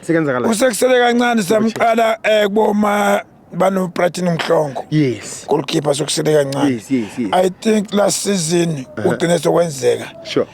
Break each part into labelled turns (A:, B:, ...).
A: Sekenzakala. Usekusele kancane samqala eh kuboma bano Brighton Mhlongo. Yes. Goalkeeper
B: sokusele
A: kancane. Yes, yes, yes. I think
B: last
A: season ugcine sokwenzeka. Sure.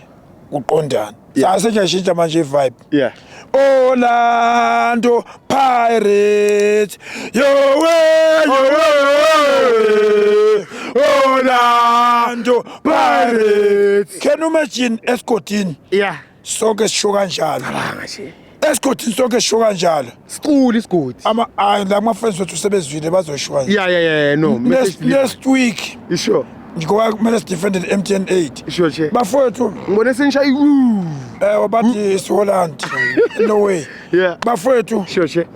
B: Kuqondana.
A: Yeah. Sase nje manje vibe. Yeah.
B: Orlando
A: Pirates. Yo way, yo way. Orlando Pirates. Can you imagine escotini? Yeah.
B: sonke sisho
A: kanjalo cabanga nje esigodini sonke sisho kanjalo siqule isigodi
B: ama hayi la kuma-friends
A: wethu sebezwile bazosho kanjalo ya ya ya no
B: message next, delivery. next
A: week isho ngoba
B: kumele
A: sidefende ne-m t n eight isho che bafowethu
B: ngibone
A: senishaya iwu
B: um bathi
A: isiholland no way Yeah. bafowethu
B: isho
A: che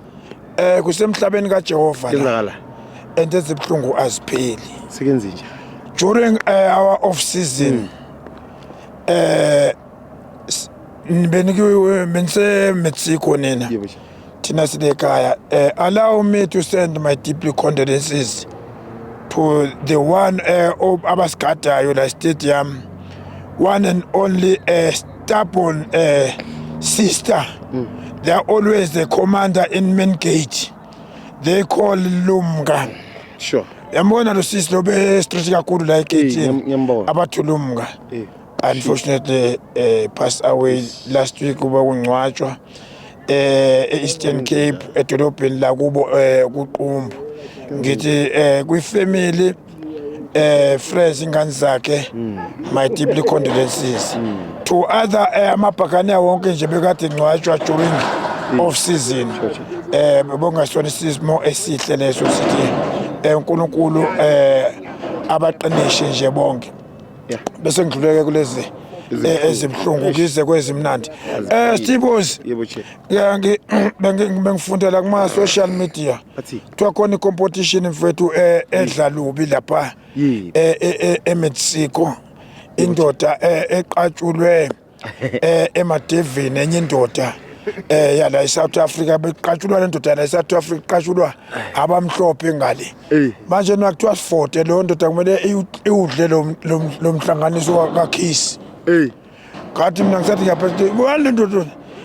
B: um kusemhlabeni
A: kajehova la kenzakala and
B: ezibuhlungu
A: azipheli sekenze njani
B: during uh,
A: our off season uh, benisemexico nina thina sinekhaya um allow me to send my deeply condolences to the one eh, um abasigadayo la stadium one and only uh, stubborn uh, sister mm. they are always the commander in main gate they call lumka sure
B: yambona lo sisi
A: lo be straight kakhulu la egate abathulumka unfortunately uh, passed away last week kuba kungcwatshwa eh eEastern Cape edolobheni la kubo eh kuqumbu ngithi eh kwi family eh friends ingane zakhe hmm. my deeply condolences hmm. to other eh, amabhakane wonke nje bekade ngcwatshwa during hmm. off season eh bongasona isimo esihle leso sithi eh, uNkulunkulu eh abaqinishe nje bonke bese ngidluleke kulezi eh, ezibuhlungu ngize kwezimnandi eh Stevos ngiyangi bengifundela kuma social media kuthiwa khona i-competition mfethu eh, edla lubi lapha eh, e-Mexico indoda eqatshulwe eh emadevini enye indoda eh yala eSouth Africa beqatshulwa le ndoda yala eSouth Africa iqatshulwa abamhlophe ngale manje nakuthiwa 40 lo ndoda kumele iwudle lo mhlanganiso kaKhiss eh ngathi mina ngisathi ngiyaphethe wale ndoda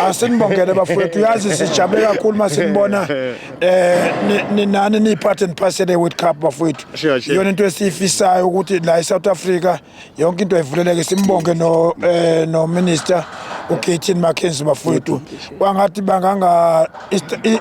A: Asinibongele bafowethu yazi sijabule kakhulu masinibona eh ninani ni part and parcel World Cup bafowethu iyona into esiyifisayo ukuthi la eSouth Africa yonke into ayivuleleke simbonge no eh, no minister uKatin Mackenzie bafowethu kwangathi banganga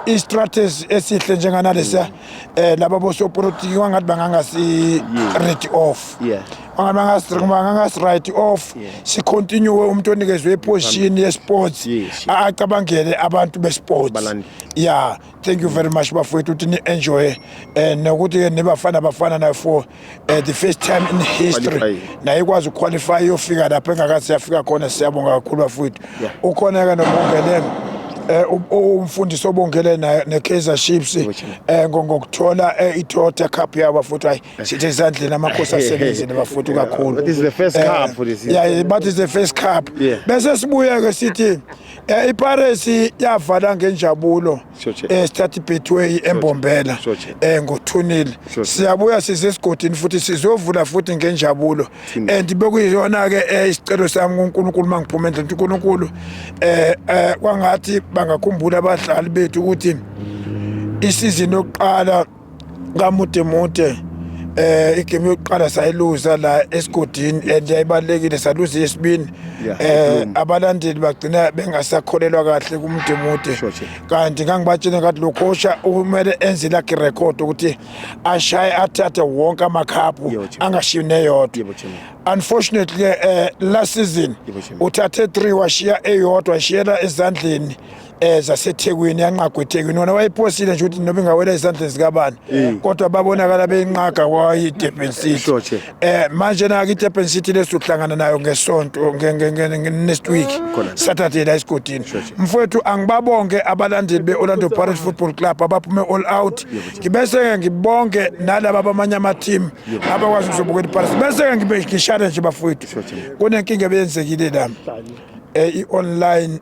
A: i-strategy esihle njenganalesa eh laba bosopolitiki kwangathi bangangasi read off yeah angabe angasi-right off sicontinue umuntu onikezwe iposition yesports acabangele abantu besports ya thank you very much bafowethu ukuthi ni-enjoye um nokuthi-ke nibafana bafana nayo for eh, the first time in history naye ikwazi ukuqualify iyofika lapho engakathi yafika khona siyabonga kakhulu bafowethu ukhona-ke nobongelelo Eh, umfundisi obongele naye ne-kaizer chiefs um ngokuthola eh, i-toyota cup yabo futhi hayi sithe esandleni amakhosi asebenzile bafuthu kakhulu But it's the first Eh, cup
B: for this yeah, year. but it's the first cup
A: Yeah. bese sibuye ke sithi eh, ipares yavala ngenjabulo Sure, Che. eh, start betway embombela Sure, Che. eh, ngothunil Sure, Che. siyabuya size esigodini futhi sizovula futhi ngenjabulo Thunil. and bekuyiyona ke eh, isicelo sami kunkulunkulu uma ngiphuma endlini ukuthi unkulunkulu eh, eh, kwangathi bangakhumbula abadlali bethu ukuthi isizini yokuqala kamude mude eh igame yokuqala sayiluza la esigodini and yayibalekile saluza yesibini eh abalandeli bagcina bengasakholelwa kahle kumude mude kanti ngangibatshena ngathi lo coach umele enze lakhe record ukuthi ashaye athathe wonke amakhaphu angashiyi neyodwa unfortunately eh last season uthathe 3 washiya eyodwa shiyela ezandleni eza sethekwini yanqagwa ethekwini wona wayephosile nje ukuthi noma ingawela ezandleni zikabani mm. kodwa babonakala beyinqaga kwayidurban city um eh, manje nake idurban city lesuhlangana nayo ngesonto next week saturday la esigodini mfowethu angibabonke abalandeli be-orlando pirate football club abaphume all out ngibese-ke ngibonke nalaba abamanye amateam abakwazi ukuzobukela iparisi bese-ke ngishane nje bafowethu kunenkinga ebeyenzekile la um eh, i-online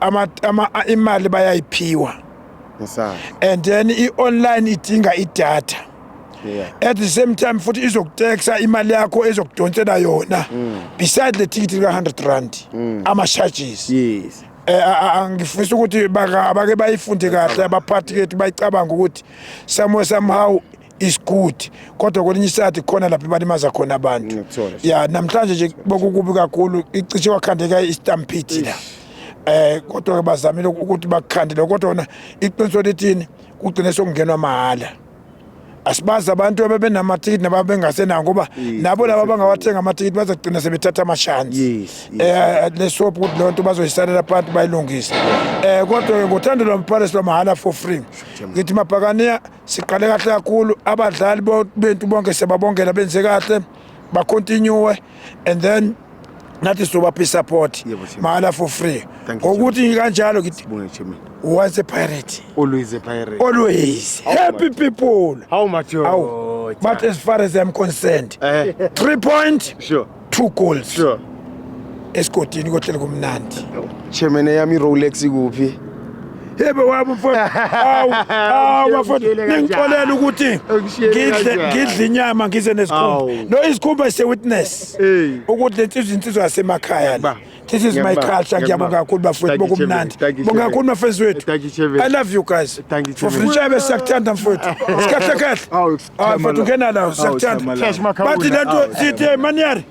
A: ama, ama imali bayayiphiwa and then i-online idinga idatha yeah. at the same time futhi izokutexa imali yakho ezokudonsela yona mm. beside le ticket lika-100 rand mm. ama-charges yes. Eh, angifisa ukuthi bake bayifunde kahle abaphathi kethu bayicabanga ukuthi somehow somehow is good kodwa kwelinye isikhathi khona lapho ibalimaza khona abantu Ngiyakuthola. ya namhlanje nje bokukubi kakhulu icishe wakhandeka istampede la eh kodwa ke bazamile ukuthi bakukhandele kodwa wona iqiniso lithini kugcine sokungenwa mahhala asibazi abantu abebenamathikithi nababengasenawo ngoba nabo laba abangawathenga amathikithi bazogcina sebethatha amashansi Yes, yes. eh lesophu ukuthi leyo nto bazoyisalela phansi bayilungise eh kodwa ke ngothando lwamphalesi lwamahhala for free ngithi mabhakaniya Siqale kahle kakhulu abadlali bethu bonke sebabongela benze kahle ba continue and then nathi sobaphi support mahala for free ngokuthi kanjalo was a pirate always a pirate
B: always how happy
A: much? people how much oh,
B: but as
A: far as i'm concerned uh, three point sure two goals sure
B: esigodini
A: kohlele kumnandi chairman yami
B: Rolex ikuphi yebo
A: wami mfowethu awu awu bafowethu ngixolela ukuthi ngidle ngidle inyama ngize nesikhumba no isikhumba se witness ukuthi lensizwe insizwe yasemakhaya la this is my culture ngiyabonga kakhulu bafowethu bokumnandi bonga kakhulu mafezi wethu i love you guys for future besiyakuthanda mfowethu sikhahle kahle Ah, mfethu ngena la siyakuthanda. Cash Makaula. Bathi lento sithi eh, maniyari.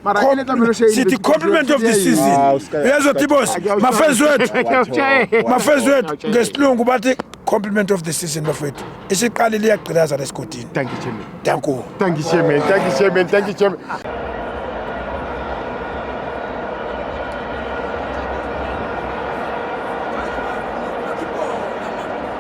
A: Mara Com- ile tabelo shey. sithi compliment of the season Ah, usika- uyezwa tibos Akuyawushaya. mafenzi wethu Akuyawushaya. mafenzi wethu Akuyawushaya. ngesilungu bathi compliment of the season bafethu isiqali liyagqilaza
B: lesigodini
A: Thank you
B: chairman. danku
A: Thank you
B: chairman. Thank you
A: chairman.
B: Thank
A: you chairman.